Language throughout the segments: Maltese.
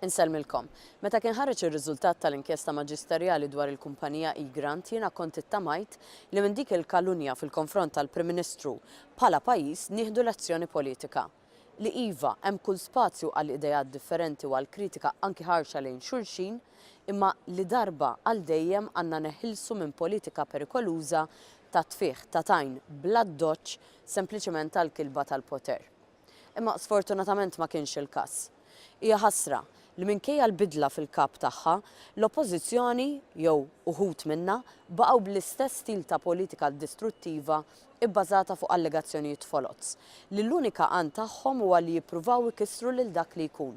Insellmilkom. Meta kien ħareġ ir-riżultat tal-inkjesta maġisterjali dwar il-kumpanija eGrant jiena kont ittamajt li minn dik il-kalunja fil-konfront tal-Prim Ministru bħala pajjiż nieħdu lezzjoni politika. Li iva, hemm kull spazju għal ideat differenti u għal kritika anki ħarxa lejn xulxin, imma li darba għal dejjem għandna neħilsu minn politika perikoluża ta' tfigħ ta' tajn bl-addoċċ sempliċement għall-kilba tal-poter. Imma sfortunatament ma kienx il-każ. Hija ħasra li minkejja l-bidla fil-Kap tagħha, l-Oppożizzjoni, jew uħud minnha, baqgħu bl-istess stil ta' politika distruttiva bbażata fuq allegazzjonijiet foloz, li l-unika għan tagħhom huwa li jippruvaw ikissru lil dak li jkun.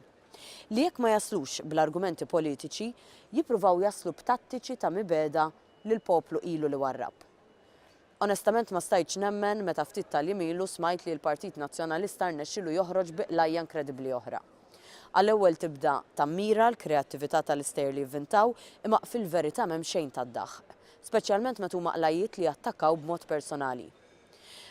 Li jekk ma jaslux bl-argumenti politiċi, jippruvaw jaslu b'tattiċi ta' mibegħda li l-poplu ilu li warrab. Onestament ma stajtx nemmen meta ftit tal-jiem ilu smajt li l-Partit Nazzjonalista rnexxielu joħroġ bi qlajja inkredibbli oħra. Għall-ewwel tibda tammira l-kreattività tal-istejjer li jivvintaw imma fil-verità m'hemm xejn tad-daħq. Speċjalment meta huma qlajjiet li jattakkaw b'mod personali.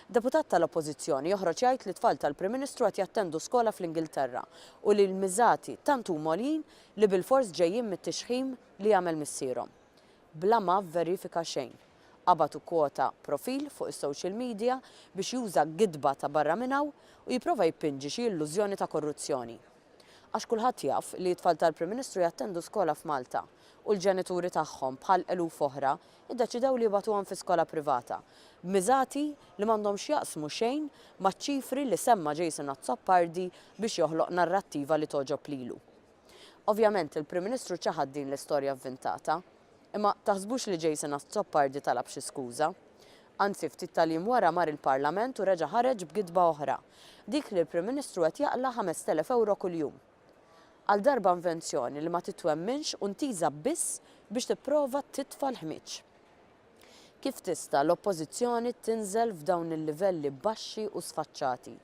Deputat tal-Oppożizzjoni joħroġ jgħid li t-tfal tal-Prim Ministru qed jattendu skola fl-Ingilterra u li l-miżati tant huma għoljin li bilfors ġejjin mit-tixħim li jagħmel missierhom. Bla ma vverifika xejn. Qabad u kwota profil fuq is-social media biex juża gidba ta' barra minn hawn u jipprova jippinġi xi illużjoni ta' korruzzjoni. Għax kulħadd jaf li t-tfal tal-Prim Ministru jattendu skola f'Malta u l-ġenituri tagħhom bħal eluf oħra ddeċidew li jibgħatuhom fi skola privata b'miżati li m'għandhom x'jaqsmu xejn maċ-ċifri li semma Jason Azzopardi biex joħloq narrattiva li togħġob lilu. Ovvjament il-Prim Ministru ċaħad din l-istorja vvintata. Imma taħsbux li Jason Azzopardi talab xi skuża. Anzi ftit tal-jiem wara mar il-Parlament u reġa' ħareġ b'gidba oħra, dik li l-Prim Ministru qed jaqla' 5,000 ewro kuljum. Għal darba invenzjoni li ma titwemminx u ntiża biss biex tipprova titfa' l-ħmieġ. Kif tista' l-Oppożizzjoni tinżel f'dawn il-livelli baxxi u sfaċċati?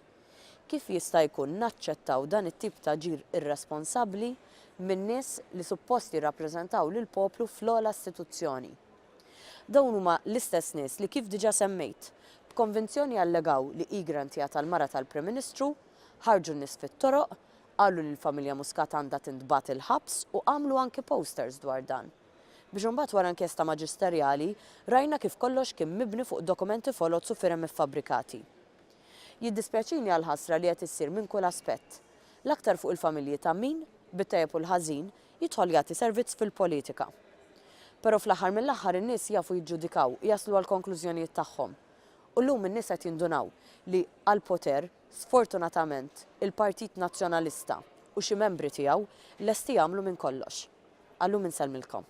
Kif jista' jkun naċċettaw dan it-tip ta' ġir irresponsabbli minn nies li suppost jirrappreżentaw lill-poplu fl-ogħla istituzzjoni? Dawn huma l-istess nies li kif diġà semmejt, b'konvinzjoni allegaw li Egrant hija tal-mara tal-Prim Ministru, ħarġu n-nies fit-toroq, qalu li l-familja Muscat għandha tintbagħat il-ħabs u għamlu anki posters dwar dan. Biex imbagħad wara inkjesta maġisterjali rajna kif kollox kien mibni fuq dokumenti foloz u firem iffabbrikati. Jiddispjaċini għall-ħasra li qed issir minn kull aspett. L-aktar fuq il-familji ta' min, bit-tajjeb u l-ħażin, jidħol jagħti servizz fil-politika. Però fl-aħħar mill-aħħar in-nies jafu jiġġudikaw u jaslu għall-konklużjonijiet tagħhom. U llum in-nies qed jindunaw li għall-poter, sfortunatament, il-Partit Nazzjonalista u xi membri tiegħu lesti jagħmlu minn kollox. Għal llum insellmilkom.